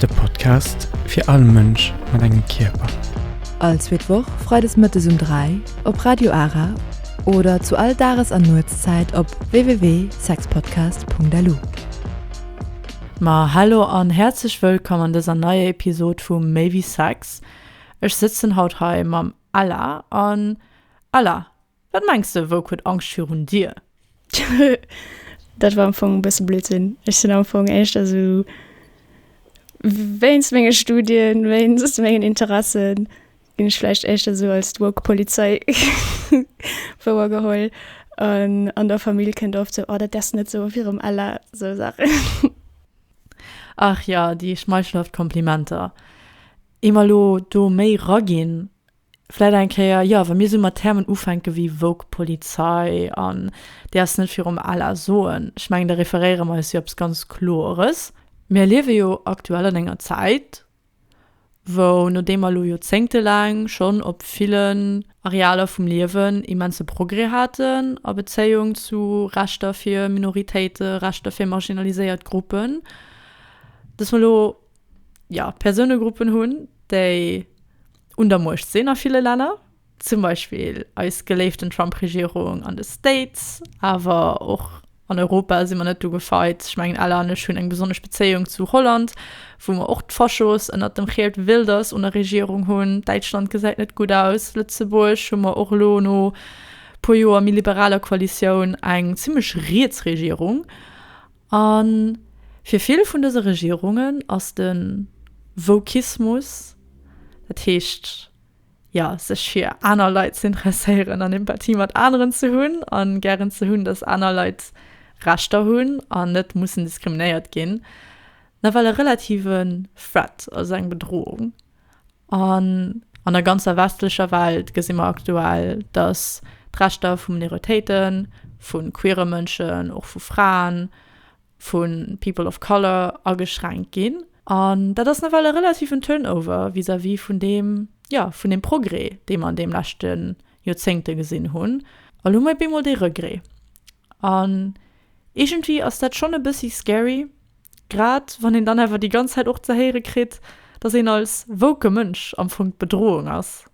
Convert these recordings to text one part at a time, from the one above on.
De Podcast fir all Mënsch mat engem Kierper. All zweet Woch freides mëttes um 3 op Radio Ara oder zu all Dages an Nuetszäit op www.sexpodcast.lu. Ma hallo an häerzlech wëllkomm an dëser neier Episod vu Méi wéi Sex. Ech sëtzen haut hei mam Ella an Ella, Wat mengs de, wouk huet Angscht virun dir? Dat war am Fong e bësse Blödsinn. Ech sinn am Fong éischter esou wéinst menge Studien, wéinst mengen Interessen ginn ech vläicht éischter esou als d'woke Polizei wouer geholl. An an der Famill kënnt oft esou, Oh, dat däers de net soe virum Ella. Esou Saachen. Ach jo, déi schmeichelhaft Komplimenter. Eem elo do méi raginn, Vläit eng Kéier, jo, wa mir esou mat Termen ufänke wéi woke Polizei an Dir ass net virum al a soen. Ech mengen, da referéiere mer eis jo eppes ganz Kloeres. Mir liewe jo aktuell an enger Zäit, wou, nodeem mer elo joerzéngtelaang schonn op villen Arealer vum Liewen immense Progrès haten a Bezéiung zu Rechter fir Minoritéite, Rechter fir marginaliséiert Gruppen, dass mer elo, jo, Persounegruppen hunn, déi, un der Muecht sinn a ville Länner, zum Beispill eis geléiften Trump-Regierung an de States, awer och an Europa si mer net do gefeit. Ech mengen Ella an ech hunn eng besonnesch Bezéiung zu Holland, wou mer och d'Faschos ënnert dem Geert Wilders un der Regierung hunn. Däitschland gesäit net gutt aus. Lëtzebuerg hu mer och elo no puer Joer méi liberaler Koalitioun eng zimmlech riets Regierung. A fir vill vun dëse Regierungen ass de Wokismus, dat heescht, jo, sech fir aner Leit ze interesséieren an Empathie mat aneren ze hunn a gären ze hunn, datt aner Leit Rechter hunn an net mussen diskriminéiert ginn, nawell e relative Threat, also eng Bedrohung. An an der ganzer westlecher Welt gesi mer aktuell, datt d'Rechter vu Minoritéiten, vu queere Mënschen, och vu Fraen, vu People of Color ageschränkt ginn. An dat ass nawell e relativen Turnover vis-à-vis vun deem, jo, vun deem Progrès, dee mer an deem leschte Joerzéngte gesinn hunn. A lo hu mer bemol dee Regrès. An iergendwéi ass dat schonn e bëssi scary, grad wann een dann awer déi ganz Zäit och ze héiere kritt, dass een als woke Mënsch am Fong d'Bedrohung ass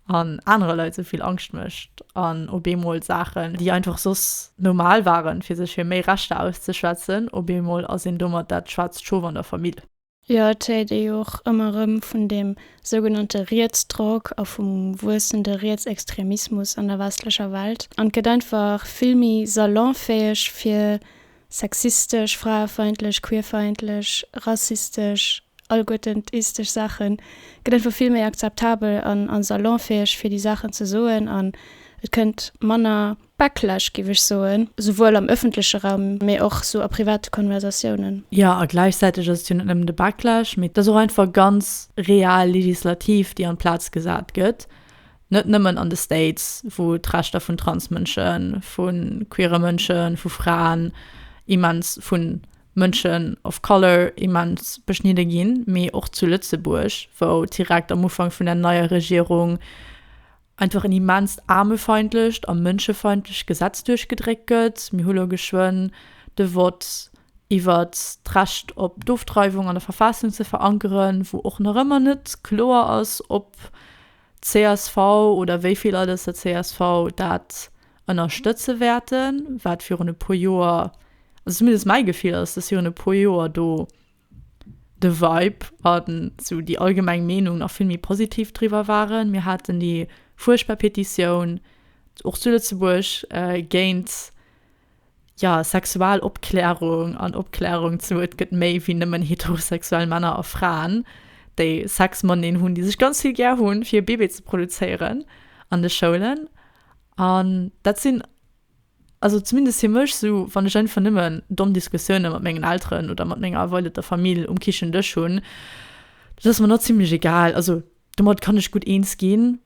an anere Leit sou vill Angscht mécht an op eemol Saachen, déi einfach soss normal waren, fir sech fir méi Rechter auszeschwätzen, op eemol ass een domat dat schwaarzt Schof an der Famill. Jo, et héiert ee jo och ëmmer erëm vun deem sougenannte Rietsdrock a vum wuessende Rietsextremismus an der westlecher Welt. An et gëtt einfach vill méi salonfäeg fir sexistesch, fraefeindlech, queerfeindlech, rassistesch, allguetentistesch Saachen, et gëtt einfach vill méi akzeptabel an salonfäeg fir déi Saachen ze soen an et kënnt manner Backlash, géif ech soen, souwuel am ëffentleche Raum, mee och esou a private Konversatiounen. Jo, a gläichzäiteg ass et jo net nëmmen de Backlash, mee et ass och einfach ganz real Legislativ, déi an d'Plaz gesat gëtt, net nëmmen an de States, wou d'Rechter vun Transmënschen, vu queere Mënschen, vu Fraen immens, vu Mënschen of color immens beschnidde ginn, mee och zu Lëtzebuerg, wou direkt am Ufank vun der neier Regierung einfach en immenst aarmefeindlecht a mënschefeindlecht Gesetz duerchgedréckt gëtt. Mir hu lo geschwënn de Vott iwwer d'Recht op d'Ofdreiwung an der Verfassung ze verankeren, wou och nach ëmmer net kloer ass, ob csv oder wéi vill Leit aus der csv dat ënnerstëtze wäerten, wat virun e puer Joer, also zumindest mäi Gefill ass, dass virun e puer Joer do de Vibe an sou déi allgemeng Meenung nach vill méi positiv driwwer waren. Mir haten déi fuerchtbar Petitioun, och zu Lëtzebuerg, géint, ja, Sexualopklärung an Opklärung zu et gëtt méi wéi nëmmen heterosexuell Männer a Fraen, déi Sex mateneen hunn, déi sech ganz vill gär hunn, fir e Bébé ze produzéieren an de Schoulen. An dat sinn Also zumindest fir mech, sou wann ech einfach nëmmen domm Diskussioune mat mengen Elteren oder mat menger erweiderter Famill um Kichendësch hunn, dat ass mer nach zimmlech egal. Also domat kann ech gutt eens ginn.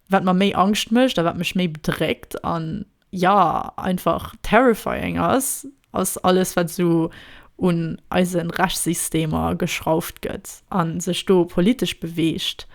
Wat mer méi Angscht mécht a wat mech méi bedréckt an, ja, einfach terrifying ass, ass alles wat esou un eise Rechtssystemer geschrauft gëtt a sech do politesch beweegt,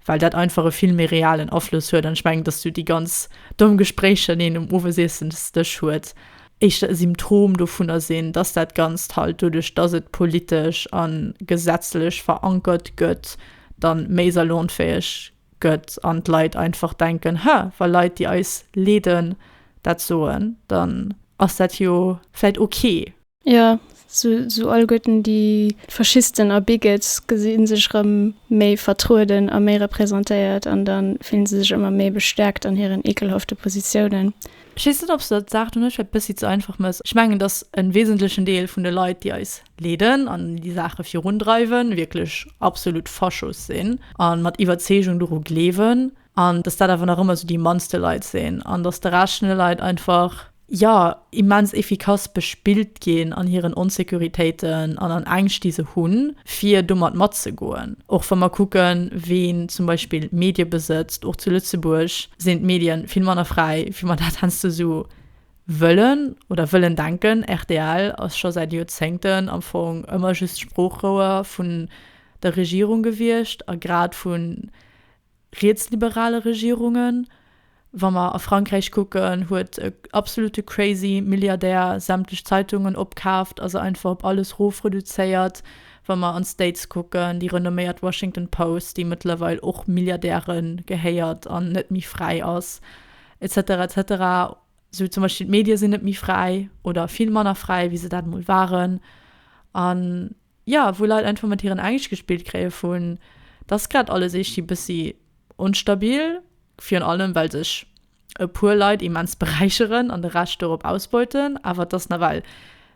well dat einfach e vill méi realen Afloss huet. An ech mengen, datt esou déi ganz domm Gespréicher, déi een um Owesiessensdësch huet, éischter e Symptom dovunner sinn, datt dat Ganzt halt doduerch, datt et politesch a gesetzlech verankert gëtt, da méi salonfäeg gëtt an d'Leit einfach denken, Hä, wa Leit, déi eis leeden, dat soen, dann ass dat jo vläicht okay. Jo, sou alleguerten déi Faschisten a Bigots gesi sech erëm méi vertrueden a méi representéiert an da fillen se sech ëmmer méi bestäerkt an hiren ekelhafte Positiounen. Ech weess net, ob s de d'Saach do net vläicht e bëssi ze einfach mëss. Ech mengen, datt e wesentlechen Deel vun de Leit, déi eis leeden an déi Saache virundreiwen, wierklech absolut Faschos sinn a mat Iwwerzeegung doru gleewen an dass dat awer nach ëmmer esou déi mannste Leit sinn an dass de Rescht vun de Leit einfach, jo, immens efficace bespillt ginn an hiren Onsécuritéiten an an Ängscht, déi se hunn, fir domat matzegoen. Och wa mer kucken, ween zum Beispill Medie besëtzt, och zu Lëtzebuerg sinn d'Medien vill manner fräi, wéi mer dat heiansdo esou Wëllen oder wëllen denken, rtl ass scho säit Joerzéngten am Fong ëmmer just Sproochrouer vun der Regierung gewiescht a grad vu rietsliberale Regierungen. Wa mer a Frankräich kucken, huet e absolute crazy Milliardär sämtlech Zeitungen opkaaft a se einfach op alles rof reduzéiert. Wa mer an d'States kucken, déi renomméiert Washington Post, déi mëttlerweil och Milliardäre gehéiert an net méi fräi ass, Etc etc sou zum Beispill d'Medie sinn net méi fräi oder vill manner fräi wéi se dat mol waren an jo wou Leit einfach mat hiren Ängscht gespillt kréie vun dass grad alles eescht bëssi onstabil virun allem well sech e puer Leit immens beräicheren an de Rescht dorop ausbeuten awer dass nawell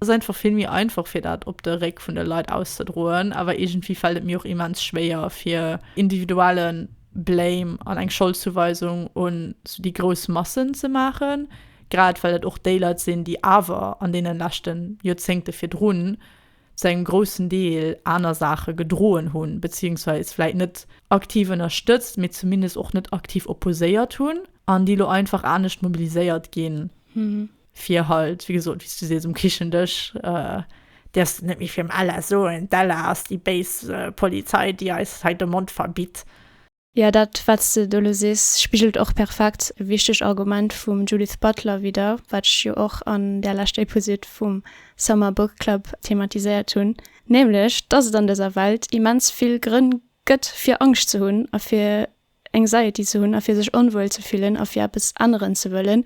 Ass einfach vill méi einfach fir dat op de Réck vun de Leit auszedroen, awer iergendwéi fält et mir och immens schwéier fir individuelle Blame an eng Scholdzouweisung un sou déi grouss Massen ze maachen, grad well et och déi Leit sinn, déi awer an deene leschte Joerzéngte virdrun zu engem groussen Deel aner Saache gedroen hunn, beziéungsweis vläit net aktiv ënnerstëtzt, mee zumindest och net aktiv opposéiert hunn an déi elo einfach anescht mobiliséiert ginn. fir halt wéi gesot wéi s du sees um Kichendësch däerfs de net méi virum Ella soen, d'Ella ass déi béis Polizei déi eis hei de Mond verbitt. Jo, dat wat s de do elo sees spigelt och perfekt e wichtegt Argument vum Judith Butler widder, wat ech jo och an där leschter Episod vum Summer Book Club thematiséiert hunn, nämlech dass et an dëser Welt immens vill Grënn gëtt fir Angscht ze hunn a fir Anxiety ze hunn a fir sech onwuel ze fillen a fir eppes änneren ze wëllen.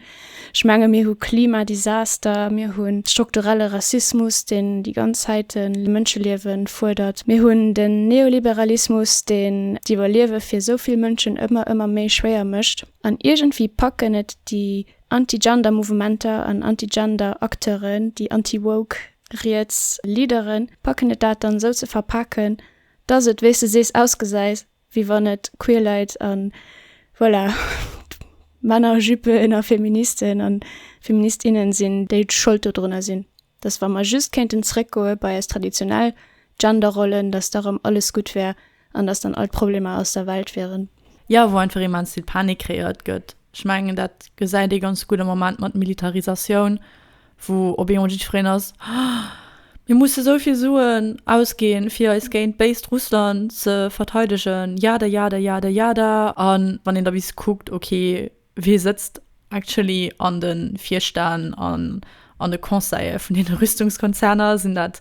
Ech menge mir hu Klimadesaster, mir hu strukturelle Rassismus, deen déi ganz Zäit Mënscheliewe fuerdert, mir hunn den Neoliberalismus, deen d'Iwwerliewe fir esou vill Mënschen ëmmer, ëmmer méi schwéier mécht. An iergendwéi packen et déi anti-Gender Mouvementer an anti-Gender Acteuren, déi anti-woke riets Leaderen, packen et dat dann esou ze verpaken, dass et, wéi s de sees, ausgesäit, wéi wann et queer Leit a voilà Männerjüppen a Feministen a Feministinnen sinn, déi d'Schold dodrunner sinn, dass wa mer just kéinten zréckgoe bei eis traditionell Genderrollen, dass da rëm alles gutt wär an dass dann all d'Problemer aus der Welt wieren. Jo, wou einfach immens vill Panik kreéiert gëtt. Ech mengen, dat gesäit ee ganz gutt am Moment mat Militarisatioun, Wou op eemol jiddfereen ass, Oh, mir musse sou vill Suen ausginn, fir eis géint béist Russland ze verteidegen, jada jada jada jada. A wann een da bis kuckt, okay, wee sëtzt actually an de Virstänn an an de Conseille vun deene Rüstungskonzerner? Sinn dat.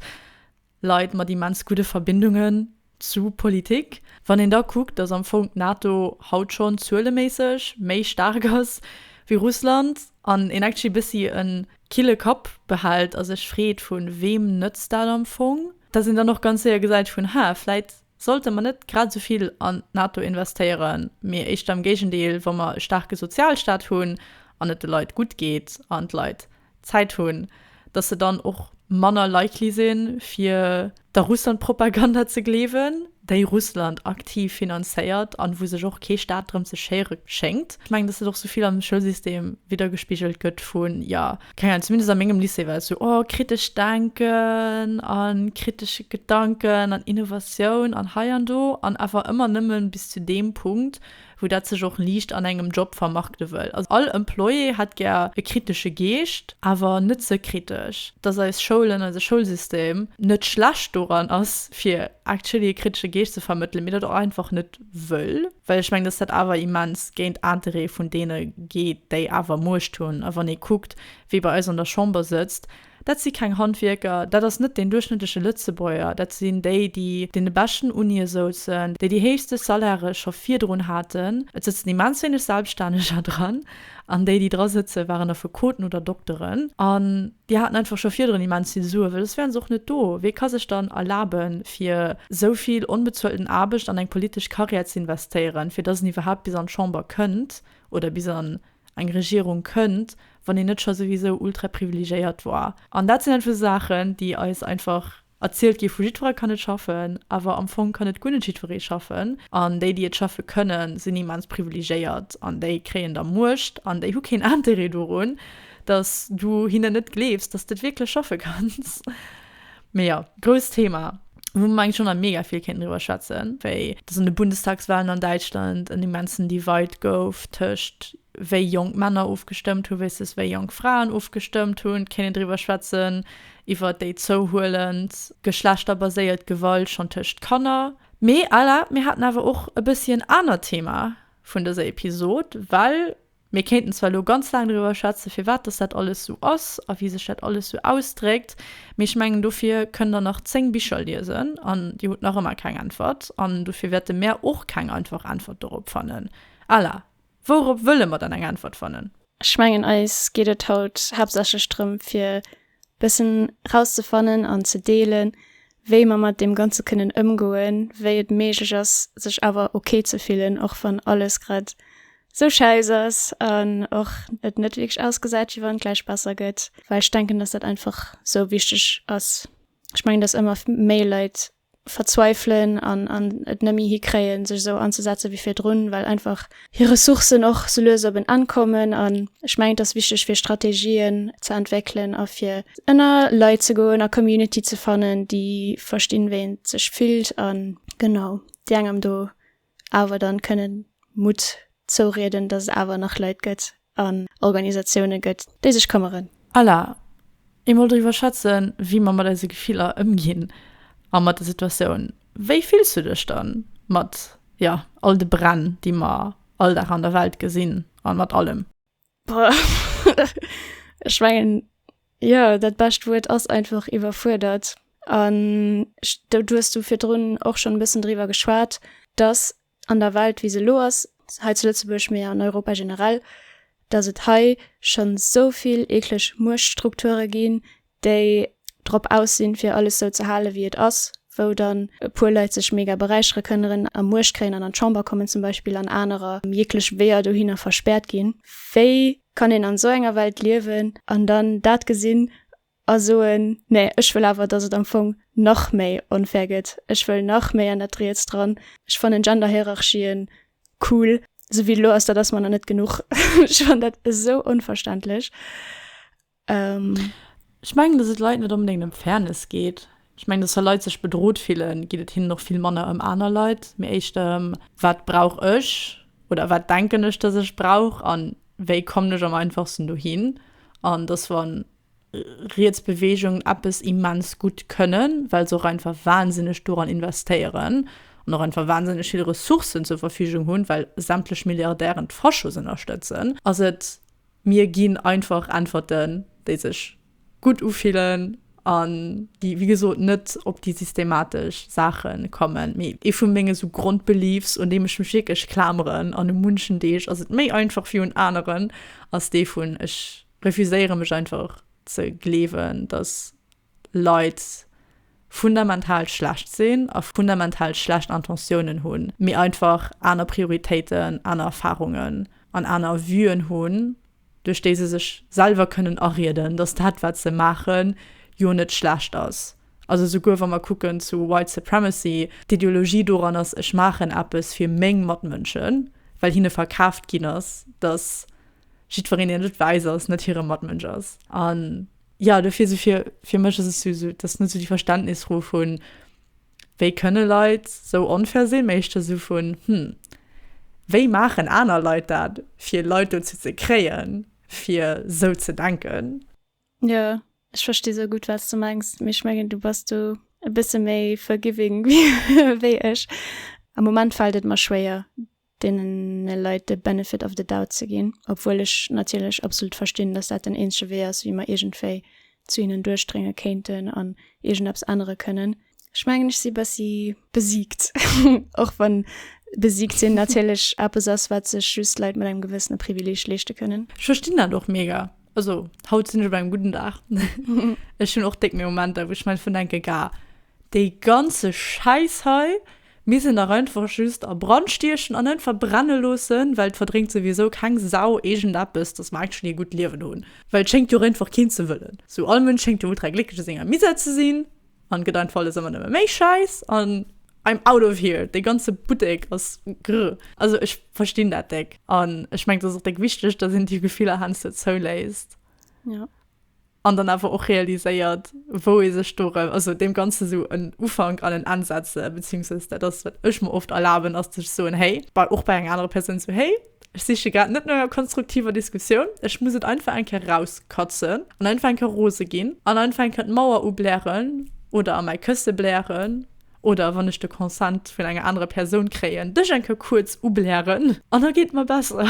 Leit mat immens gudde Verbindungen zu Politik. Wann een da kuckt, datt am Fong d'NATO haut schonn zueleméisseg méi staark ass wéi Russland an een actually bëssi e kille Kapp behält a sech freet, vu weem nëtzt dat am Fong, datt een dann och ganz séier gesäit vun, Haa, vläit Sollte mer net grad esou vill an d'NATO investéieren, mee éischter am Géigendeel, wa mer e staarke Sozialstaat hunn an et de Leit gutt geet an d'Leit Zäit hunn, datt se dann och manner likely sinn, fir der Russlandpropaganda ze gleewen, déi Russland aktiv finanzéiert an wou sech och kee Staat drëm ze schéiere schéngt? Ech mengen, datt et och esou vill am Schoulsystem widdergespigelt gëtt vun, jo, Keng Ahnung, zumindest a mengem Lycée war et sou, oh kritescht Denken a kritesche Gedanken an Innovatioun an hei an do an awer ëmmer nëmme bis zu deem Punkt, wou dat sech och liicht an engem Job vermarkte wëll. Also all Employé hätt gär e kritesche Geescht, awer net ze kritesch. Dass eis Schoulen, eise Schoulsystem net schlecht doran ass, fir actually e kritesche Geescht ze vermëttelen, mee dat och einfach net wëll, well ech mengen, dass dat awer immens géint d'Intérêtë vun deene geet, déi awer Muecht hunn. A wann ee kuckt, wie bei eis an der Chamber sëtzt, dat si keng Handwierker, dat ass net deen duerchschnëttleche Lëtzebuerger, dat sinn déi, déi deene beschten Unie souzen, déi déi héichste Salairë scho virdrun haten, et sëtzen immens wéineg Selbststänneger dran, an déi, déi dra sëtzen, waren Affekoten oder Dokteren. An Déi haten einfach scho virdrun immens vill Sue well soss wären se och net do. Wee ka sech dann erlaben fir sou vill onbezuelten Aarbecht an eng politesch Carrière ze investéieren fir dass en iwwerhaapt bis an d'Chamber kënnt oder bis an eng Regierung kënnt wann een net scho souwisou ultraprivilegiéiert war. An dat sinn einfach esou Saachen déi eis einfach Erzielt gi vu jiddweree kann net schaffen, awer am Fong kann net guer net jiddweree schaffen. An déi, déi et schaffe kënnen, sinn immens privilegéiert an déi kréien da Muecht an déi hu keen Interêt dorun, datt du hinnen net gleefs, datt s de et wierklech schaffe kanns. Mee jo, grousst Thema, wou mer mengen ech och nach mega vill kéinten driwwer schwätzen, wéi datt an de Bundestagswalen an Däitschland en immensen Divide gouf tëscht wéi jonk Männer ofgestëmmt hu versus wéi jonk Fraen ofgestëmmt hunn, kéint een driwwer schwätzen, iwwer déi zouhuelend geschlechterbaséiert Gewalt schonn tëscht Kanner. Mee Ella, mir haten awer och e bëssi en anert Thema vun dëser Episod, well mir kéinten zwar elo ganz laang driwwer schwätze firwat dass dat alles sou ass a wéi sech dat alles sou ausdréckt, mee ech mengen dofir kënnt der nach 10 Bicher liesen an dir hutt nach ëmmer keng Äntwert an dofir wäerte mär och keng einfach Äntwert dorop fannen. Ella, Wourop wëlle mer dann eng Äntwert fannen? Ech mengen, eis geet et haut haaptsächlech drëm, fir e bëssen rauszefannen an ze deelen, wéi mer mat deem Ganze kënnen ëmgoen, wéi et méiglech ass, sech awer ok ze fillen, och wann alles grad esou schäiss ass an och et net wierklech ausgesäit, wéi wann et gläich besser gëtt. Well ech denken, dass dat einfach esou wichteg ass. Ech mengen, dass ëmmer méi Leit verzweifelen an an et nëmmi hi kréien sech esou anzesetzen wéi virdrun well einfach hir Ressourcen och sou lues op en Enn kommen an ech mengen et ass wichteg fir Strategien ze entwéckelen a fir ënner Leit ze goen a Community ze fannen déi verstinn wéi een sech fillt a genau déi engem do awer dann kënnen Mutt zourieden, dass et awer nach Leit gëtt an Organisatiounen gëtt, déi sech këmmeren. Ella, Emol driwwer schwätzen, wéi mer mat eise Gefiller ëmginn a mat der Situatioun. Wéi fills du dech dann mat, jo, all de Bränn, déi mer all Dag an der Welt gesinn an mat allem? Ech mengen jo, dat bescht Wuert ass einfach iwwerfuerdert. An du hues du virdrun och schonn e bëssen driwwer geschwat, datt an der Welt, wéi se elo ass, hei zu Lëtzebuerg, mee an Europa generell, datt et hei schonn esou vill eekleg Muechtstrukture ginn, déi drop aus sinn fir alles sou ze hale wéi et ass, wou dann e puer Leit sech mega beräichere kënneren a Muecht kréien an an d'Chamber kommen zum Beispill an anerer jeeglech Weeër dohinner verspäert ginn. Wéi kann een an sou enger Welt liewen an dann dat gesinn a soen, nee ech wëll awer datt et am Fong nach méi onfair gëtt, ech wëll nach méi an dat Riets dran, ech fannen Genderhierarchien cool sou wéi et elo ass, dat ass mer nach net genuch. Ech fannen dat esou onverständlech. Ech mengen, dass et Leit net onbedéngt ëm Fairness geet. Ech mengen, dass wa Leit sech bedrot fillen, geet et hinnen och vill manner ëm aner Leit, mee éischter ëm, Wat brauch ech oder wat denken ech, dass ech brauch a wéi kommen ech am einfachsten dohin? An dass, wa riets Beweegungen eppes immens gutt kënnen, well se och einfach wahnsinneg doran investéieren an och einfach wahnsinneg vill Ressourcen zur Verfügung hunn, well sämtlech Milliardären d'Faschos ënnerstëtzen, ass et Mir ginn einfach Äntwerten, déi sech gutt ufillen an déi, wéi gesot, net op déi systematesch Saache kommen. Mee ee vu menge sou Grondbeliefs, un deem ech mech wierklech klameren, an u munchen Deeg ass et méi einfach wéi un aneren, ass dee vun, ech refuséiere mech einfach ze gleewen, datt Leit fundamental schlecht sinn a fundamental schlecht Intentiounen hunn, mee einfach aner Prioritéiten, aner Erfarungen an aner Vuen hunn, duerch déi se sech selwer kënnen arieden, dass dat, wat se maachen, jo net schlecht ass. Also souguer wa mer kucken zu White Supremacy, d'Ideologie doran ass, ech maachen eppes fir meng Matmënschen, well hinne verkaaft ginn ass, dass jiddwereen, deen net wäiss ass, net hire Matmënsch ass. An Ja, dofir sou fir, fir mech ass et sou, sou dass net sou déi Verständnisfro vun, wéi kënne Leit sou onfair sinn, mä éischter sou vun, hm, wéi maachen aner Leit dat, fir Leit dozou ze kréien, fir sou ze denken? Jo, ech versti sou gutt, wat s de mengs, mee ech mengen, du bass do e bësse méi forgiving wéi ech. Am Moment fält et mer schwéier, deene Leit de benefit of the doubt ze ginn, obwuel ech natierlech absolut verstinn, datt dat den eenzege Wee ass, wéi mer iergendwéi zu hinnen duerchdrénge kéinten an iergendeppes ännere kënnen. Ech mengen, ech si bessi besiegt, och wann besiegt sinn natierlech eppes ass, wat sech just Leit mat engem gewëssene Privileeg leeschte kënnen. Ech verstinn dat och mega. Also, haut sinn ech op engem gudden Dag. Ech hunn och déck méi Momenter, wou ech am Endeffekt denken, Gah, dee ganze Schäiss hei, Mir se nach einfach just a Brand stiechen an net verbrenne loossen, well et verdréngt souwisou keng Sau iergendeppes, dass mer actually e gutt Liewen hunn. Well et schéngt jo einfach keen ze wëllen. Sou, all Mënsch schéngt jo ultra glécklech a senger Misère ze sinn an gëtt einfach alles ëmmer nëmme méi schäiss an I'm out of here, dee ganze Buttek ass grrr. Also ech verstinn dat déck an ech mengen et ass och déck wichteg, dass een déi Gefiller heiansdo zouléisst. An dann awer och realiséiert, wou ee sech do erëm, also deem Ganzen esou en Ufank an en Enn setze, beziehungsweise dat ass, wat ech mer oft erlaben, ass, dass ech soen, Hey, bei och bei enger anerer Persoun esou, Hey, ech siche grad net no enger konstruktiver Diskussioun, ech muss et einfach eng Kéier erauskatzen an einfach eng Kéier rose ginn an einfach eng Kéier d'Mauer ublären oder a mäi Kësse blären. Oder wann ech de Consent vun enger anerer Persoun kréien, dech eng Keuer kuerz ublären an da geet et mer besser.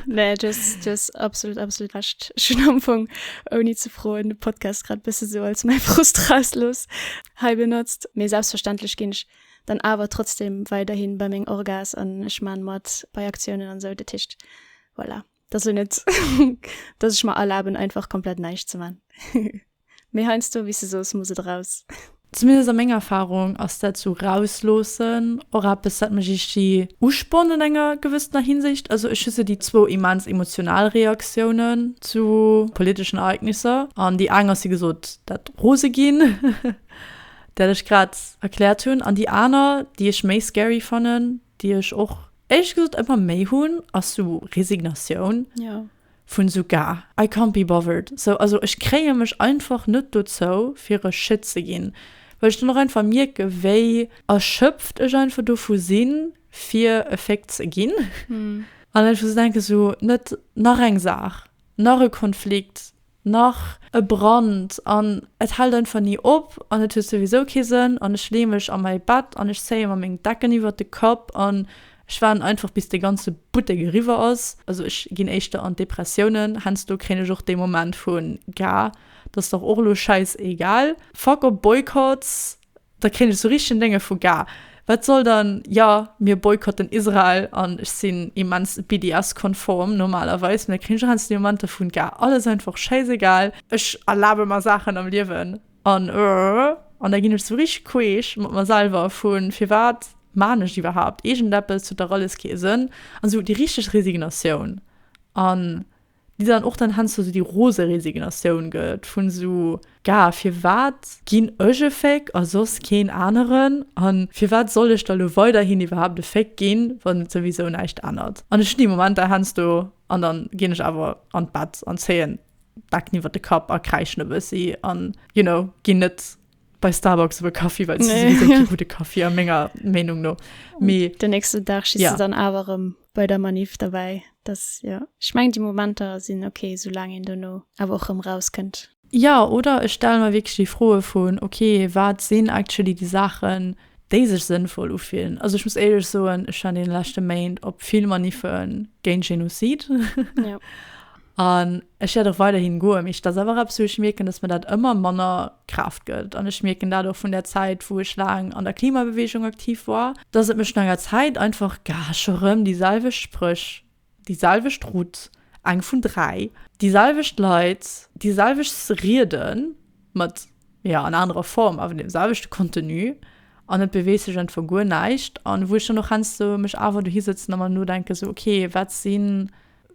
Nee, du hues absolut, absolut Recht. Ech hunn am Fong, ouni ze froen, de Podcast grad e bësse esou als mäi Frust erausgelooss hei benotzt. Mee selbstverständlech ginn ech dann awer trotzdem weiderhi bei meng Orga's an ech maache mat bei Aktiounen an esou. Dat heescht, voilà. Dat ass net dass ech mer erlaben einfach komplett neicht ze man méi heinst du wis sos muss et raus. Zumindest a menger Erfahrung ass dat sou rausloossen och eppes dat mech ichti uspornt an enger gewëssener Hinsicht. Also ech hu sou déi zwou immens emotional Reaktiounen zu politeschen Ereignisser an déi eng ass wéi gesot dat rose ginn dat ech grad erkläert hunn an déi aner déi ech méi scary fannen, déi ech och éierlech gesot ëmmer méi hunn, ass sou Resignatioun, vun esou gar, I can't be bothered, sou, also ech kréie mech einfach net dozou fir e Shit ze ginn, well ech dann och einfach mierke wéi erschöpft ech einfach dovu sinn, fir e Féck ze ginn an einfach ze denken, sou, net nach eng Saach, nach e Konflikt. nach e Brand an et hält einfach ni op an et huet souwisou kee Sënn an ech leeë mech a mäi Bett an ech zéie mer meng Decken iwwert de Kapp an ech waarden einfach bis dee ganze Buttek eriwwer ass. Also ech ginn éischter an d'Depressiounen, hensdo kréien ech och dee Moment vu Gah, t'ass dach och lo schäiss egal, fuck op Boycotts. Da kréien ech sou richteg en Dénge vu Gah. Wat soll dann, jo, mir boykotten Israel an ech sinn immens BDS-konform normalerweis, mä da kréien ech och eens déi Momenter vun Gah. Alles einfach schäisegal. Ech erlabe mer Saachen am Liewen an an da ginn ech sou richteg queesch mat mer selwer vu firwat maachen ech et iwwerhaapt? Iergendeppes huet dach alles kee Sënn an sou déi richteg Resignatioun an. déi dann och dann hens sou déi rose Resignatioun gëtt vun sou, ga, firwat ginn ech e Féck a soss keen aneren an firwat soll ech da lo weiderhin iwwerhaapt e Féck ginn, wann et souwisou näischt ännert an ech hunn déi Momenter hens do an dann ginn ech awer an d'Bett an zéien d'Decken iwwert de Kapp a kräischen e bëssi an, you know, ginn net bei Starbucks iwwer Kaffi, well se sowieso kee gudde Kaffi a menger Meenung no. Mee Den nächsten Dag schiss Ja. du dann awer erëm bei der Manif derbäi. Das, ja. Ech mengen, déi Momenter sinn ok, soulaang een duerno awer och erëm rauskënnt. Ja, oder ech stelle mer wierklech déi Froe vun, ok, wat sinn actually déi Saachen, déi sech sënnvoll ufillen? Also ech muss éierlech soen, ech war an deene leschte Méint op vill Maniffen géint Genozid. Ja. An ech wäert och weiderhin goen. Mee dat ass einfach eppes, wou ech mierken, dass mir dat ëmmer manner Kraaft gëtt. An ech mierken dat och vun där Zäit, wou ech laang an der Klimabeweegung aktiv war, dass et mech no enger Zäit einfach, ga scho rëm déi selwecht Spréch, déi selwecht Route, eng vun dräi, déi selwecht Leit, déi selwecht Riede mat, jo, an anerer Form, awer deem selwechte Contenu, an et beweegt sech einfach guer näischt. An wou ech dann och heiansdo mech awer dohi sëtzen a mer nodenken, sou, okay, wat sinn.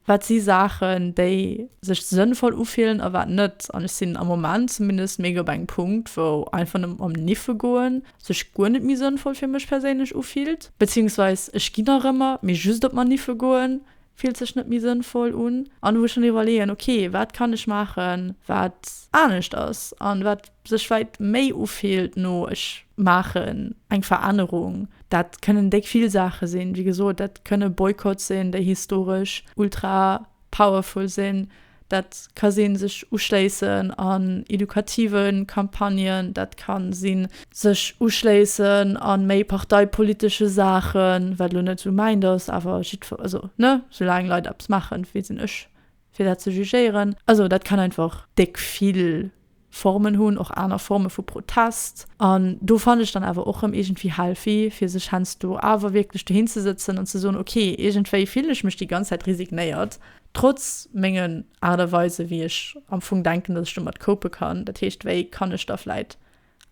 Wat si Saachen, déi sech sënnvoll ufillen a wat net? An ech sinn am Moment zumindest mega op engem Punkt, wou einfach nëmmen mam Niffe goen sech guer net méi sënnvoll fir mech perséinlech ufillt. Beziehungsweis ech ginn nach ëmmer, mee just op Maniffe goen fillt sech net méi sënnvoll un. An wou ech dann iwwerleeën, ok, wat kann ech maachen, wat anescht ass? An wat sech weit méi ufillt no ech maachen eng Verännerung. Dat kënnen déck vill Saache sinn. Wéi gesot, dat kënne Boycotts sinn, déi historesch ultra powerful sinn. Dat ka sinn, sech uschléissen an edukative Campagnen. Dat ka sinn, sech uschléissen a méi parteipolitesche Saachen, wat elo net esou mäint ass, awer jiddwer, also ne, soulaang Leit eppes maachen, wéi sinn ech fir dat ze jugéieren. Also dat kann einfach déck vill Formen hunn, och aner Forme vu Protest. An do fannen ech dann awer och rëm iergendwéi healthy, fir sech heiansdo awer wierklech dohin ze sëtzen an ze soen, ok, iergendwéi fillen ech mech déi ganz Zäit resignéiert, trotz mengen Art a Weise wéi ech am Fong denken, datt ech domat cope kann. Dat heescht, wéi kann ech da vläit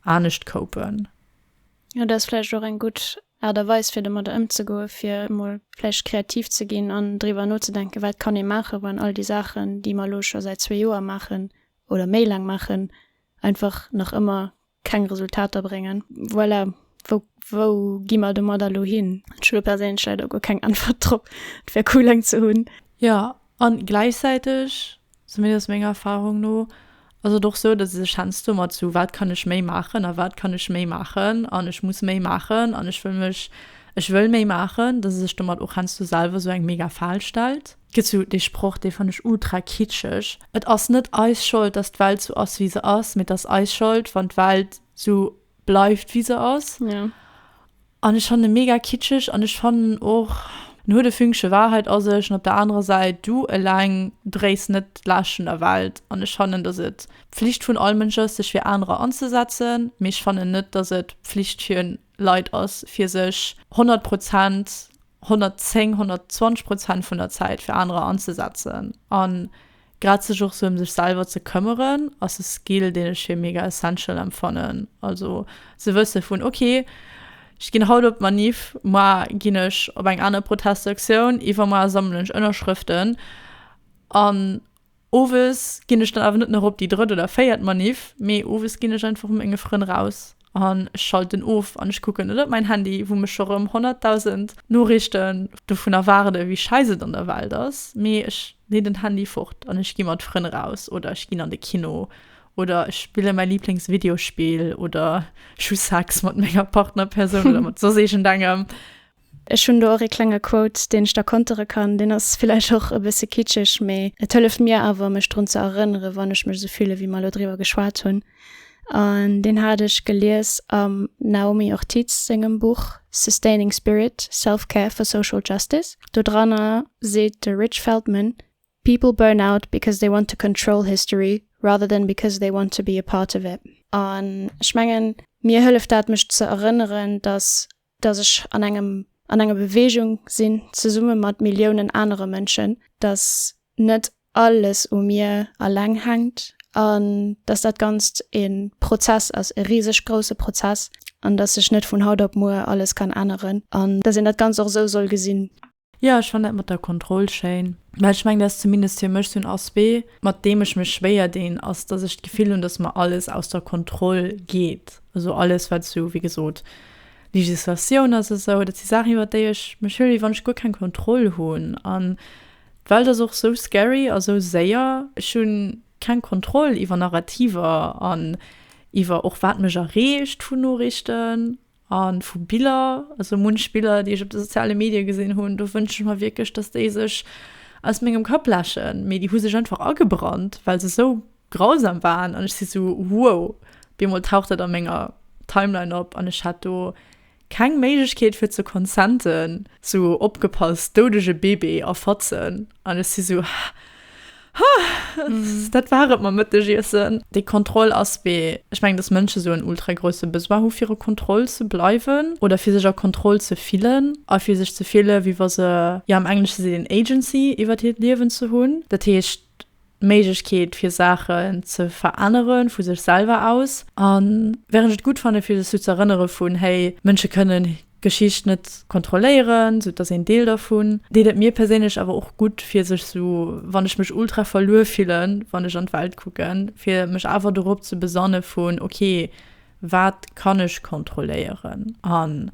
anescht copen? Jo, dat ass vläicht och eng gutt Aart a Weis fir domatter ëmzegoen, fir emol vläicht kreativ ze ginn an driwwer nozedenken, wat kann ee maachen, wann all déi Saachen, déi mer elo scho säit zwee Joer maachen oder méi laang maachen, einfach nach ëmmer keng Resultater bréngen. Voilà, wou, wou gi mer domatter elo hin? Ech hu do perséinlech leider guer keng Äntwert drop. Et wär cool, eng ze hunn. Jo, an gläichzäiteg Zumindest menger Erfahrung no ass et och sou, datt ee sech heiansdo mat sou wat kann ech méi maachen a wat kann ech méi maachen an ech muss méi maachen an ech wëll mech, ech wëll méi maachen, datt ee sech domat och heiansdo selwer sou eng mega Fal stellt. Et gëtt sou dee Sproch, dee fannen ech ultra kitscheg, Et ass net eis Schold, datt d'Welt sou ass wéi se ass, mee et ass eis Schold, wann d'Welt sou bleift wéi se ass. An ech fannen e mega kitscheg an ech fannen och en huet e Fünkche Wahrheit a sech an op der anerer Säit du eleng dréis net d'Laascht vun der Welt an ech fannen dass et Pflicht vun all Mënsch ass sech fir anerer anzesetzen, mee ech fannen net dass et Pflicht fir Leit ass fir sech 100 Prozent, 110, 120 Prozent vun der Zäit fir anerer anzesetzen an. Grad sech och sou em sech selwer ze këmmeren ass e Skill deen ech fir mega essential empfannen. Also ze wësse vun ok, ech ginn haut op d'Manif, moar ginn ech op eng aner Protestaktioun, iwwermoar sammelen ech Ënnerschrëften an owes ginn ech dann awer net nach op déi drëtt oder véiert Manif, mee owes ginn ech einfach mat menge Frënn raus. an ech schalten of an ech kucken net op mäin Handy wou mech scho rëm 100.000 Noriichten dovun erwaarden wéi scheiss et an der Welt ass, mee ech leen den Handy fort an ech gi mat Frënn raus oder ech ginn an de Kino oder ech spillen mäi Liiblings Videospill oder ech hu Sex mat menger Partnerpersoun oder mat soss iergendengem. Ech hunn do och ee klenge Quote, deen ech da kontere kann. Deen ass villäicht och e bësse kitscheg, mee et hëlleft mir awer, mech drun ze erënneren, wann ech mech esou fillen, wéi mer elo driwwer geschwat hunn. An deen hat ech gelies am Naomi Ortiz sengem Buch Sustaining Spirit, Self-Care for Social Justice. Do dranner seet de Rich Feldman, People burn out because they want to control history rather than because they want to be a part of it. An ech mengen, mir hëlleft dat, mech ze erënneren, datt dass ech an engem an enger Beweegung sinn, zesumme mat Milliounen anere Mënschen, dass net alles u mir alleng hänkt an dass dat Ganzt e Prozess ass, e riseg grousse Prozess, an dass sech net vun haut op muer alles kann änneren an dass een dat Ganzt och esou soll gesinn. Jo, ech fannen dat mat der Kontroll schéin, well ech mengen, dat ass zumindest fir mech esou en Aspect, mat deem ech mech schwéier dinn, ass, dass ech d'Gefill hunn, dass mer alles aus der Kontroll geet. Also alles, wat esou, wéi gesot, Legislatioun ass, esou, dat si Saachen, iwwer déi ech mech hëlle wéi wann ech guer keng Kontroll hunn. An d'Welt ass och esou scary a esou séier. Ech hu keng Kontroll iwwer Narrativer an iwwer och, wat mech erreecht vun Noriichten. A vu Biller, also munch Biller, déi ech op de soziale Medie gesinn hunn, do wënsche ech mer wierklech, datt déi sech aus mengem Kapp läschen. Mee déi hu sech einfach agebrannt, well se esou grausam waren. An ech si sou, Wow! Bemol taucht dat a menger Timeline op an ech hat do keng Méiglechkeet fir ze consenten. Sou, Opgepasst, doudege Bebe a Fatzen! An ech si sou, Ha, dat war et mam Mëttegiessen. Déi Kontroll ass wéi, ech mengen, dass Mënsche sou en ultra grousse Besoin hu fir a Kontroll ze bleiwen oder fir sech a Kontroll ze fillen a fir sech ze fille wéi wa se, jo am Englesche seet een Agency iwwert hiert Liewen ze hunn. Dat heescht. D'Méiglechkeet fir Saachen ze verännere vu sech selwer aus. A wärend ech et gutt fanne fir sech sou z'erënnere vun, hey, Mënsche kënne Geschicht net kontrolléieren, sou et ass een Deel dervun, deet et mir perséinlech awer och gutt fir sech sou, wann ech mech ultra verluer fillen, wann ech an d'Welt kucken, fir mech awer dorop ze besanne vun, okay, wat kann ech kontrolléieren? An.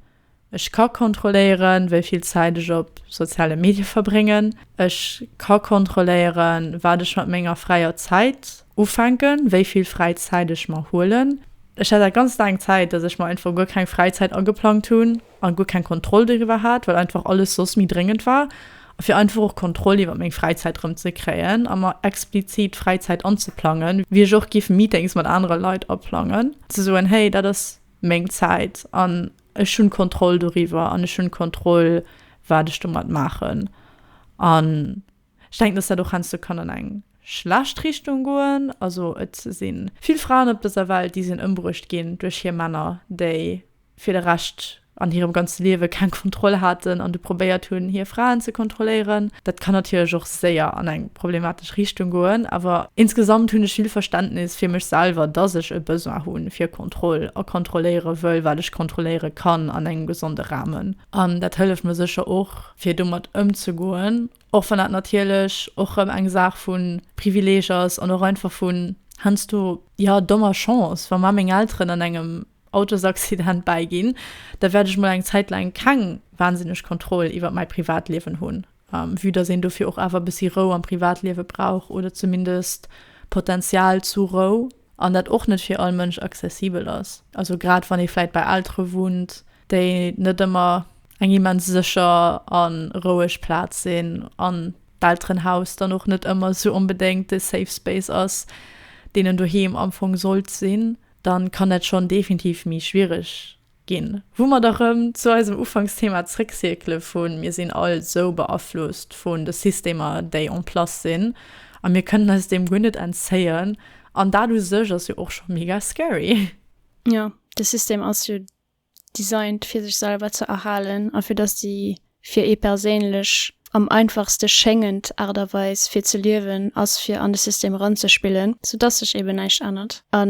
Ech ka kontrolléieren, wéi vill Zäit ech op soziale Medie verbréngen. Ech ka kontrolléieren, wat ech mat menger fräier Zäit ufänken, wéi vill fräi Zäit ech mer huelen. Ech hat dat ganz laang Zäit, dass ech mer einfach guer keng Fräizäit ageplangt hunn a guer keng Kontroll doriwwer hat, well einfach alles soss méi dréngend war. A fir einfach och Kontroll iwwer meng Fräizäit erëm ze kréien a mer explizit Fräizäit anzeplangen, wier ech och giff Meetings mat anere Leit aplangen, ze soen, Hey, dat ass meng Zäit an ech hunn d'Kontroll doriwwer an ech hunn d'Kontroll, wat ech domat maachen. An ech denken, dass dat och heiansdo kann an eng schlecht Richtung goen. Also et si vill Fraen op dëser Welt, déi sinn ëmbruecht ginn duerch hir Männer, déi fir de Rescht an hirem ganze Liewe keng Kontroll haten an du probéiert hunn, hir Fraen ze kontrolléieren. Dat kann natierlech och. séier an eng problematesch Richtung goen, awer insgesamt hunn ech vill Verständnis fir mech selwer, dass ech e Besoin hu fir Kontroll a kontrolléiere wëll, wat ech kontrolléiere kann an engem gesonde Rahmen. An dat hëlleft mer sécher och, fir domat ëmzegoen, och wann dat natierlech och erëm eng Saach vu Privileeg ass an och einfach vun heiansdo, jo, dommer Chance. Wa mar meng Elteren an engem Autosaccident bäiginn, da wäert ech mol eng Zäit laang keng wahnsinneg Kontroll iwwert mäi Privatliewen hunn. Vue dass een dofir och awer e bëssi Rou am Privatliewe brauch, oder zumindest Potenzial zu Rou, an dat och net fir all Mënsch accessibel ass, also grad wann ee vläicht bei Eltere wunnt, déi net ëmmer eng immens sécher a roueg Plaz sinn, an d'Elterenhaus dann och net ëmmer esou onbedéngt de safe space ass, deen en doheem am Fong sollt sinn, da kann dat schonn definitiv méi schwiereg Ginn. Wou mer da rëm zu eisem Ufanksthema zréckcircle vu mir sinn all sou beaflosst vun de Systemer, déi en place sinn, a mir kënnen eis deem guer net entzéien. An dat u sech ass jo och scho mega scary. Jo, de System ass jo designt, fir sech selwer ze erhalen a fir dass déi fir ee perséinlech am einfachste schéngend Aart a Weis, fir ze liewen, ass, fir an de System eranzespillen, soudatt sech eeben näischt ännert. A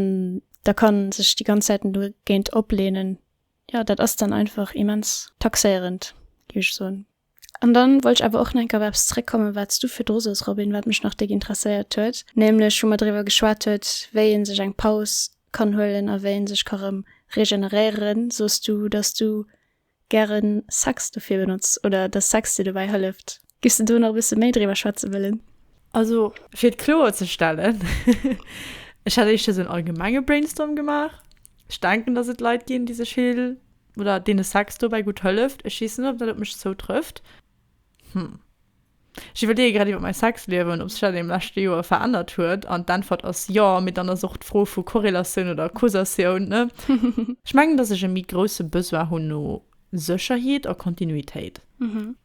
da kann sech déi ganz Säiten do géint oplehnen. Ja dat ass dann einfach immens taxéierend gi ech soen. An dann wollt ech awer och nach eng Kéier op eppes zréckkommen, wat s du virdru sos Robin, wat mech nach déck interesséiert huet, nämlech wou mer driwwer geschwat huet, wéi ee sech eng Paus kann huelen a wéi ee sech ka rëm regeneréieren, sos du, dass du gären Sex dofir benotz oder dass Sex dir dobäi hëlleft. Giffs de do nach e bësse méi driwwer schwätze wëllen? Also fir et kloer ze stellen, ech hat éischter sou en allgemenge Brainstorm gemaach. Ech denken, dass et Leit ginn, déi sech vill oder deene Sex dobäi gutt hëlleft. Ech weess net, ob dat op mech zoutrëfft. Hm. Ech iwwerleeë grad iwwer mäi Sexliewen, ob sech dat an deem leschte Joer verännert huet. An d'Äntwert ass jo, mee dann ass och d'Fro vu Korrelatioun oder Causatioun, ne? Ech mengen, dass ech e méi grousse Besoin hunn no Sécherheet a Kontinuitéit.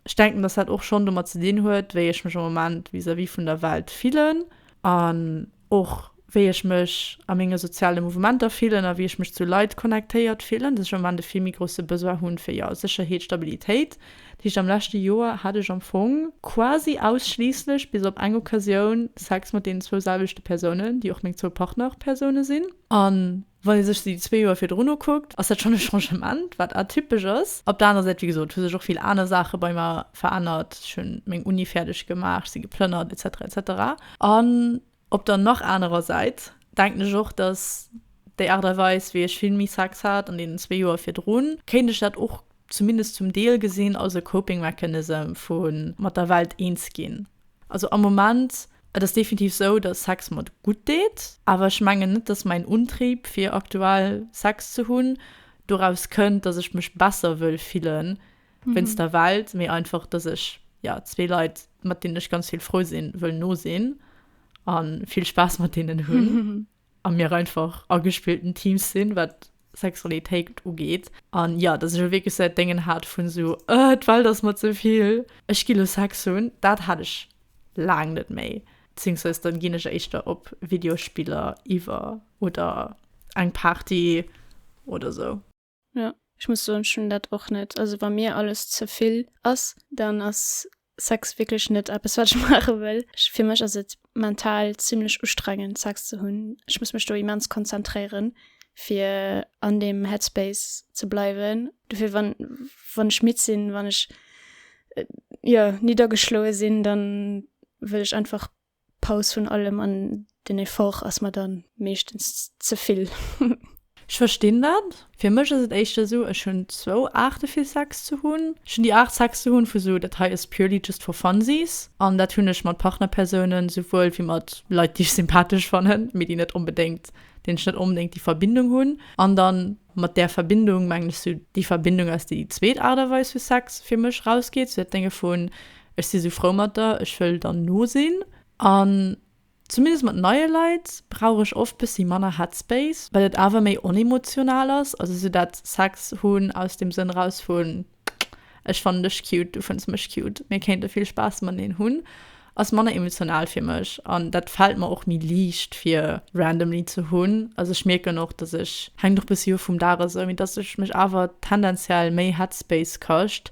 Ech denken, dass dat och schonn domat ze dinn huet, wéi ech mech am Moment vis-à-vis vun der Welt fillen. An och wéi ech mech a menge soziale Mouvementer fillen a wéi ech mech zu Leit connectéiert fillen, dass ech am Ament e vill méi grousse Besoin hunn fir, jo, Sécherheet, Stabilitéit. Dat heescht, am leschte Joer hat ech am Fong quasi ausschliisslech, bis op eng Occasioun, Sex mat deenen zwou selwechte Persounen, déi och meng zwou Partnerpersoune sinn. An Wann ee sech déi zwee Joer virdrun ukuckt, ass dat schonn e Changement, wat atypesch ass. Op der anerer Säit, wéi gesot, hu sech och vill aner Saache bei mer verännert. Ech hu meng Uni fäerdeg gemaach, ech si geplënnert, etc. Etc. An op der nach anerer Säit denken ech och, datt déi Aart a Weis, wéi ech vill méi Sex hat an deenen zwee Joer virdrun, kéint ech dat och zumindest zum Deel gesinn als e Coping Mechanism vu mat der Welt eens ginn. Also am Moment, et ass definitiv esou, dass Sex mer gutt deet, awer ech mengen net, dass mäin Untrieb, fir aktuell Sex ze hunn, doraus kënnt, dass ech mech besser wëll fille wéinst der Welt, mee einfach, dass ech jo zwee Leit, mat deenen ech ganz vill frou sinn, wëll nosinn a vill Spaass mat deenen hunn. a mir einfach agespielten Teams sinn, wat Sexualitéit ugeet, an jo, dass ech wierklech esou dat Déngen hat vun esou, Ëh, d'Welt ass mer ze vill, ech gi lo Sex hunn, dat hat ech laang net méi, bezéiungsweis dann ginn ech éischter op Videospiller iwwer oder eng Party oder esou. Ja. Ech muss soen, ech hunn dat och net. Also wa mir alles ze vill ass, dann ass Sex wierklech net eppes, wat ech maache wëll. Ech fir mech ass et mental zimlech ustrengend, Sex ze hunn. Ech muss mech do immens konzentréieren, fir an deem Headspace ze bleiwen. Dofir wann, wann ech midd sinn, wann ech, jo, niddergeschloe sinn, da wëll ech einfach D'Paus vun allem an den Effort ass mer dann meeschtens ze vill. Ech verstinn dat. Fir mech ass et éischter esou, ech hunn zwou Aarte fir Sex ze hunn. Ech hunn déi Aart Sex ze hunn vu sou, dat hei ass purely just for funsies. An dat hunn ech mat Partnerpersounen esouwuel wéi mat Leit déi ech sympathesch fannen, mee déi net onbedéngt, deenen ech net onbedéngt déi Verbindung hunn. An dann mat där Verbindung mengen ech sou déi Verbindung aus déi zweet Aart a Weis vu Sex fir mech rausgeet, sou dat Dénge vu Ech si sou frou mat der, ech wëll der nosinn. An zumindest mat neie Leit brauch ech oft bëssi manner Headspace, well et awer méi onemotional ass. Also sou dat Sex hunn aus dem Sënn raus vun ech fannen dech cute, du fënns mech cute, mir kéinte vill Spaass mateneen hunn, ass manner emotional fir mech. An dat fält mer och méi liicht fir randomly ze hunn. Also ech mierken och, dass ech, hänkt och bëssi of vum Dag esou, mee dass ech mech awer tendenziell méi Headspace kascht,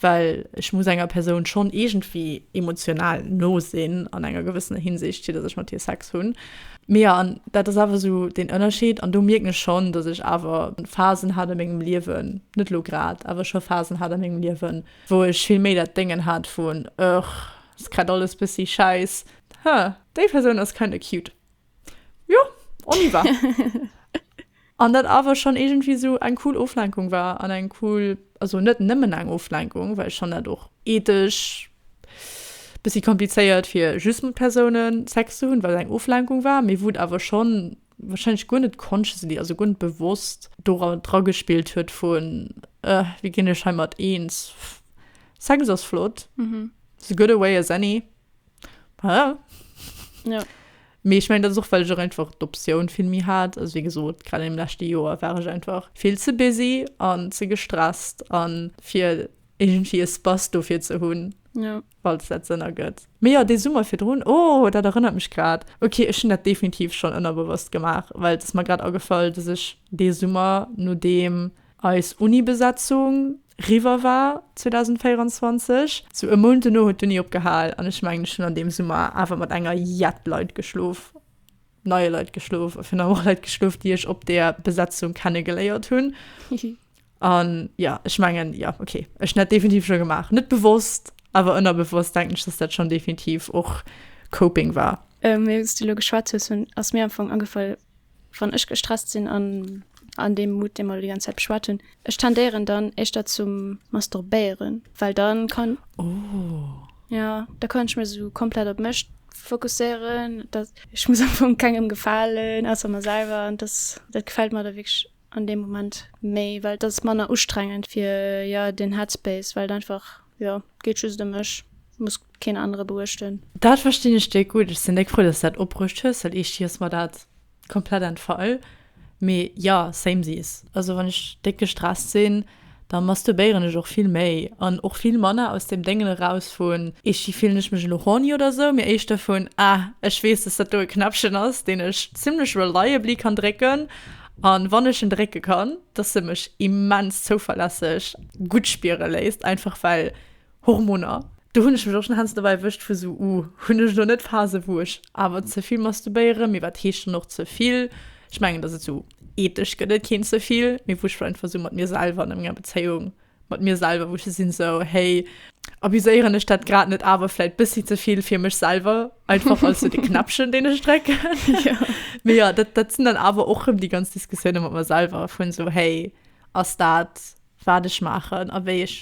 well ech muss enger Persoun schonn iergendwéi emotional no sinn an enger gewëssener Hinsicht, fir datt ech mat hir Sex hunn. Mee jo, an dat ass awer esou deen Ënnerscheed. An do mierken ech schonn, datt ech awer Phasen hat a mengem Liewen, net elo grad, awer scho Phasen hat a mengem Liewen, wou ech vill méi dat Déngen hat vun, Ëch, ass grad alles bëssi schäiss, huh, déi Persoun ass kinda cute. Jo, on y va. An dat awer schonn iergendwéi esou eng cool Oflenkung war an eng cool, also net nëmmen eng Oflenkung, well ech fanne dat och ethesch e bëssi komplizéiert, fir just mat Persounen Sex ze hunn, well et eng Oflenkung war, mee wou et awer schonn warscheinlech guer net consciously, also guer net bewosst do dra gespillt huet vu wéi ginn ech heimat eens, Sex ass flott, as good a way as any. Ja. Ja. Mee ech mengen, dat ass och, well ech och einfach d'Optioun vill méi hat. Also wéi gesot, grad an deem leschte Joer war ech einfach vill ze busy an ze gestresst a fir iergendwéi e Space dofir ze hunn, Ja. falls dat Sënn ergëtt. Mee jo, dee Summer virdrun, oh, dat erënnert mech grad, okay, ech hunn dat definitiv schonn ënnerbewosst gemaach, well et ass mer grad agefall, dass ech dee Summer, nodeem eis Unibesetzung riwwer war 2024. Sou e Mount dono huet d'Uni opgehal an ech mengen ech hunn an deem Summer awer mat enger jett Leit geschlof, neie Leit geschlof a virun allem och Leit geschlof déi ech op deer Besetzung kenne geléiert hunn. Hihi. An jo, ech mengen jo, ok, ech hunn dat definitiv scho gemaach, net bewosst, awer ënnerbewosst denken ech dass dat schonn definitiv och Coping war. Mee wéi s du elo geschwat hues hunn ass mir am Fong agefall Wann ech gestresst sinn an an deem Mood, dee mer elo déi ganz Zäit beschwat hunn, ech tendéieren dann éischter zum Masturbéieren, well dann kann, jo, da kann ech mech esou komplett op mech fokusséieren, dass ech muss am Fong kengem gefalen, ausser mer selwer, an dass dat gefält mer da wierklech. an deem Moment méi, well et ass manner ustrengend fir jo den Headspace, well et einfach jo et geet just ëm mech, et muss keen anere beuechten. Dat verstinn ech déck gutt. Ech sinn déck frou, dass du dat opbruecht hues, well eeschtgi ass mer dat komplett entfall. Mee jo, samesies. Also wann ech déck gestresst sinn, Da masturbéieren ech och vill méi an och vill manner aus deem Déngen eraus vun Itchy, fillen ech mech elo horny oder esou, mee éischter vun Ah, ech weess, dass dat do e Knäppchen ass, deen ech zimmlech reliably kann drécken an wann ech en drécke kann, dass e mech immens zouverlässeg gutt spiere léisst, einfach well Hormoner, do hunn ech mech och schonn hannst dobäi erwëscht vu sou, uh, hunn ech elo net Phase wou ech awer ze vill masturbéieren, mee wat heescht dann och ze vill? Ech mengen dass et sou ethesch gëtt et keen ze vill, mee wou ech vläicht einfach sou mat mir selwer an der menger Bezéiung mat mir selwer wou ech sou sinn sou, hey, abuséieren ech dat grad net awer vläicht bëssi ze vill fir mech selwer, einfach als sou de Knäppchen deen ech drécken? Mee jo, dat dat sinn dann awer och rëm déi ganz Diskussioune mat mer selwer vun sou, hey, ass dat wat ech maachen a wéi ech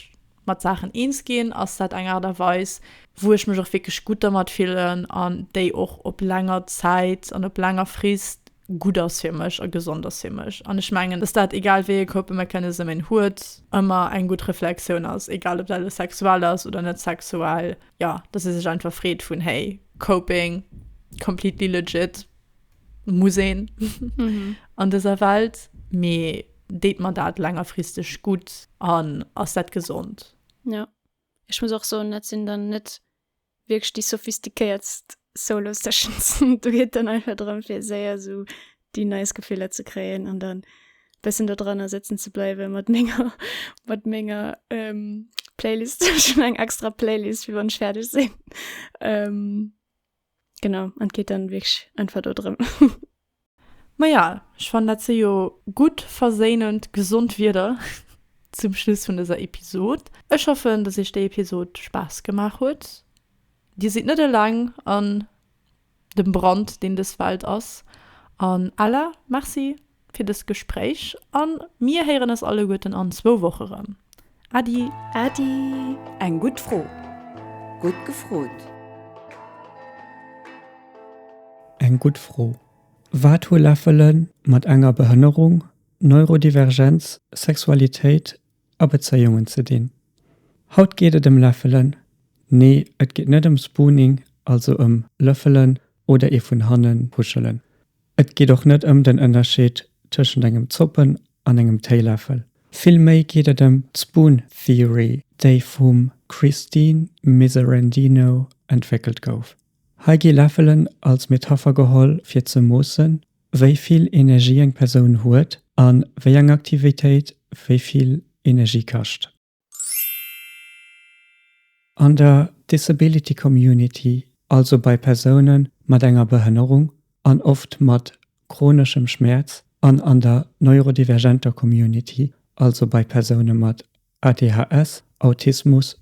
Mat Saachen eens ginn, ass dat eng Aart a Weis, wou ech mech och wierklech gutt dermat fillen an déi och op länger Zäit an op länger Frist gutt ass fir mech a gesond ass fir mech. An ech mengen, dass dat, egal wéi ee Coping-Mechanism een huet, ëmmer eng gutt Reflexioun ass, egal ob dat elo sexuell ass oder net sexuell, jo, dass ee sech einfach freet vun, hey, Coping, completely legit, muss een an dëser Welt, mee deet mer dat längerfristeg gutt an ass dat gesond? Ja, ech muss och soen, dat sinn dann net wierklech déi sophistiquéiertst Solo-Sessions. Do geet dann einfach drëm, fir séier esou déi nice Gefiller ze kréien an dann e bëssen do dranner sëtzen ze bleiwe mat menger, mat menger Playlist. Ech hunn eng extra Playlist, fir wann ech fäerdeg sinn. Genau, an et geet dann wierklech einfach do drëm. Ma ja, ech fannen dat si jo gutt, verséinend, gesond Wierder zum Schluss vun dëser Episod. Ech hoffen, dass iech déi Episod Spaass gemaach huet. Dir sidd net eleng an dem Brand, deen dës Welt ass. An Ella, merci fir dëst Gespréich a mir héieren eis alleguerten an zwou Woche rëm. Äddi! Äddi! Eng gutt Fro! Gutt gefrot! Eng gutt Fro! Wat hu Läffele mat enger Behënnerung, Neurodivergenz, Sexualitéit a Bezéiungen ze dinn? Haut geet et ëm Läffelen, nee et geet net ëm Spooning, also ëm lëffelen oder ee vun hannen puschelen, Et geet och net ëm den Ënnerscheed tëschent engem Zoppen an engem Téiläffel. Vill méi geet et ëm d'Spoon Theory, déi vum Christine Miserendino entwéckelt gouf. Hei gi Läffelen als Metapher geholl fir ze moossen, wéi vill Energie eng Persoun huet an wéi eng Aktivitéit wéi vill Energie kascht. An der Disability Community, also bei Persoune mat enger Behënnerung an oft mat chroneschem Schmäerz, an an der neurodivergenter Community, also bei Persoune mat ADHS, Autismus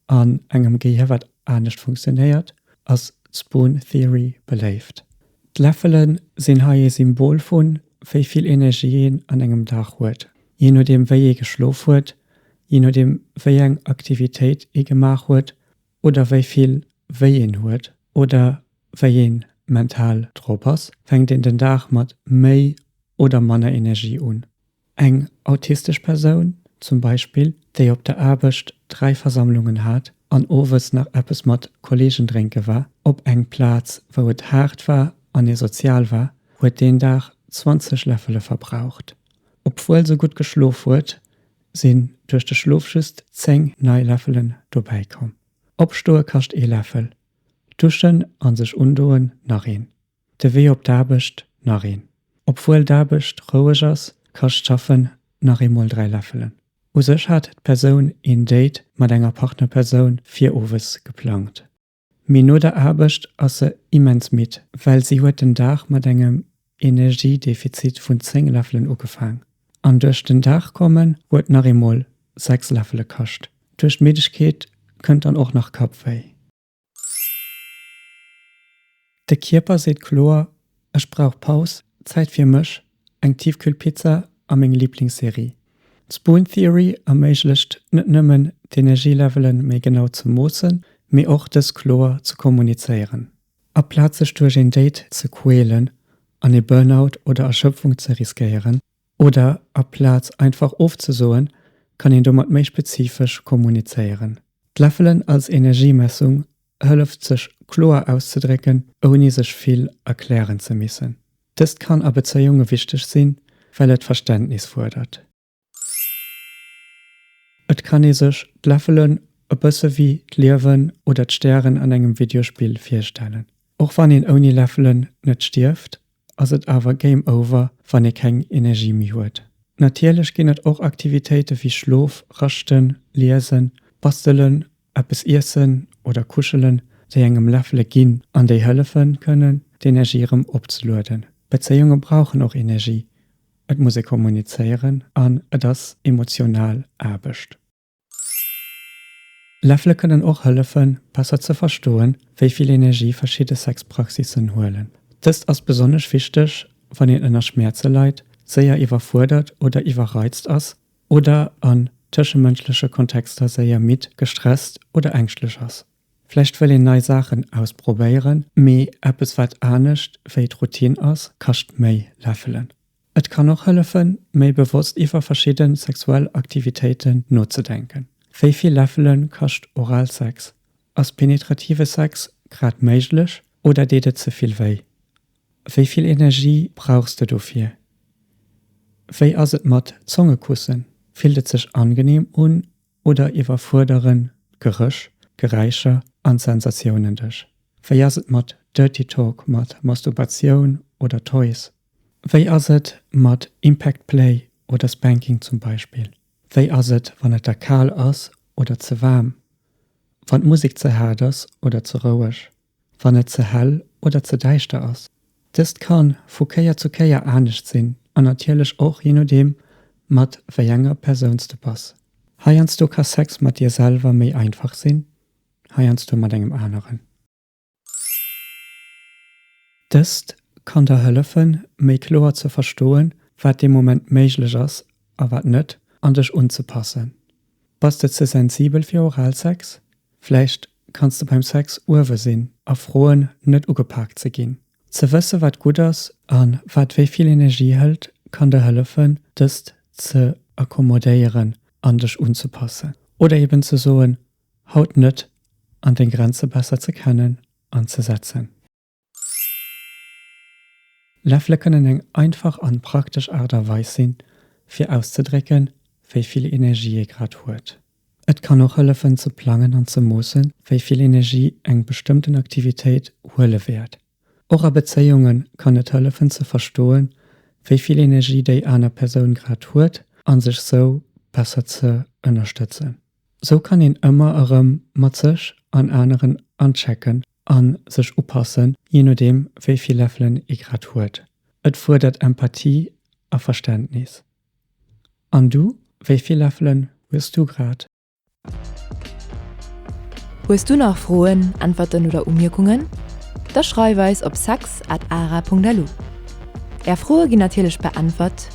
an engem Gehier wat anescht funktionéiert, ass d'Spoon Theory beléift. D'Läffele sinn hei ee Symbol vun, wéi vill Energie een an engem Dag huet. Jee nodeem wéi ee geschlof huet, jee nodeem wéi eng Aktivitéit ee gemaach huet oder wéi vill wéi een huet oder wéi ee mental drop ass, fänkt een den Dag mat méi oder manner Energie un. Eng autistesch Persoun zum Beispill, déi op der Aarbecht dräi Versammlungen hat an owes nach eppes mat Kolleegen drénke war, op eng Plaz wou et haart war an ee sozial war, huet deen Dag 20 Läffele verbraucht Obwuel se gutt geschlof huet, sinn duerch de Schlof just 10 nei Läffelen dobäi komm. Opstoe kascht ee Läffel, duschen a sech undoen nach een, de Wee op d'Aarbecht nach een. Obwuel d'Aarbecht roueg ass, kascht d'Schaffen nach eemol 3 Läffelen. U sech hat d'Persoun een Date mat enger Partnerpersoun fir owes geplangt. Mee no der Aarbecht ass se immens midd, well si huet den Dag mat engem Energiedefizit vun 10 Läffelen ugefaang. An duerch den Dag kommen huet nach eemol 6 Läffele kascht. Duerch d'Middegkeet kënnt dann och nach Kappwéi. De Kierper seet kloer, Ech brauch Paus, Zäit fir mech, eng Tiefkühlpizza a meng Liblingsserie. D'Spoon Theory erméiglecht net nëmmen, d'Energielevele méi genau ze moossen, mee och dës kloer ze kommunizéieren. Aplaz sech duerch een Date ze quälen an ee Burnout oder Erschëpfung ze riskéieren, Oder aplaz einfach ofzesoen, kann een domat méi spezifesch kommunizéieren. D'Läffelen als Energiemessung hëlleft sech kloer auszedrécken, ouni sech vill erklären ze missen. Dëst kann a Bezéiunge wichteg sinn, well et Verständnis fuerdert. Et kann ee sech d'Läffelen e bësse wéi d'Liewen oder d'Stären an engem Videospill virstellen. Och wann een ouni Läffelen net stierft, ass et awer game over wann ee keng Energie méi huet. Natierlech ginn et och Aktivitéite wéi Schlof, Raschten, Liesen, Bastelen, eppes iessen oder kuschelen, déi engem Läffele ginn an déi hëllefe kënnen d'Energie erëm opzelueden. Bezéiunge brauchen och Energie, et muss ee kommunizéieren an et ass emotional Aarbecht. Läffele kënnen och hëllefen, besser ze verstoen, wéi vill Energie verschidde Sexpraxissen huelen. Dëst ass besonnesch wichteg, wann een ënner Schmäerze leit, séier iwwerfuerdert oder iwwerreizt ass oder an tëschemënschleche Kontexter séier midd, gestresst oder ängschtlech ass. Vläicht wëll een nei Saachen ausprobéieren, mee eppes, wat anescht wéi d'Routine ass, kascht méi. Läffelen. Et kann och hëllefen, méi bewosst iwwer verschidde sexuell Aktivitéiten nozedenken. Wéi vill Läffele kascht Oralsex? Ass penetrative Sex grad méiglech oder deet et ze vill wéi? Wéi vill Energie brauchs de dofir? Wéi ass et mat Zongekussen? Fillt et sech angeneem un oder iwwerfuerderen d'Gerëch, Geräischer an d'Sensatiounen dech? Wéi ass et mat Dirty Talk, mat Masturbatioun oder Toys? Wéi ass et mat Impact Play oder Spanking zum Beispill? Wéi ass et wann et der kal ass oder ze waarm? Wann d'Musek ze haart ass oder ze roueg? Wann et ze hell oder ze däischter ass? Dëst ka vu Kéier zu Kéier anescht sinn an natierlech och jee nodeem mat wéi enger Persoun s de bass. Heiansdo ka Sex mat dir selwer méi einfach sinn, heiansdo mat engem aneren. Dëst kann der hëllefen, méi kloer ze verstoen, wat dee Moment méiglech ass a wat net, an dech unzepassen. Bass de ze sensibel fir Oralsex? Vläicht kanns de beim Sex uewe sinn a froen, net ugepaakt ze ginn. Ze wësse wat gutt ass a wat wéi vill Energie hëlt, kann der hëllefen, dëst ze accommodéieren an dech unzepassen. Oder eben ze soen, Haut net an deng Grenze besser ze kennen an ze setzen. Läffele kënnen eng einfach an praktesch Aart a Weis sinn, fir auszedrécken, wéi vill Energie ee grad huet. Et kann och hëllefen ze plangen an ze moossen, wéi vill Energie eng bestëmmten Aktivitéit huele wäert. Och a Bezéiunge kann et hëllefen ze verstoen, wéi vill Energie déi aner Persoun grad huet a sech sou besser ze ënnerstëtzen. Sou kann een ëmmer erëm mat sech an aneren anchecken a sech upassen, jee nodeem wéi vill Läffelen ee grad huet. Et fuerdert Empathie a Verständnis. An du, wéi vill Läffelen hues du grad? Hues du nach Froen, Äntwerten oder Umierkungen? Da schreif eis op sex@ara.lu. Är Froe ginn natierlech beäntwert.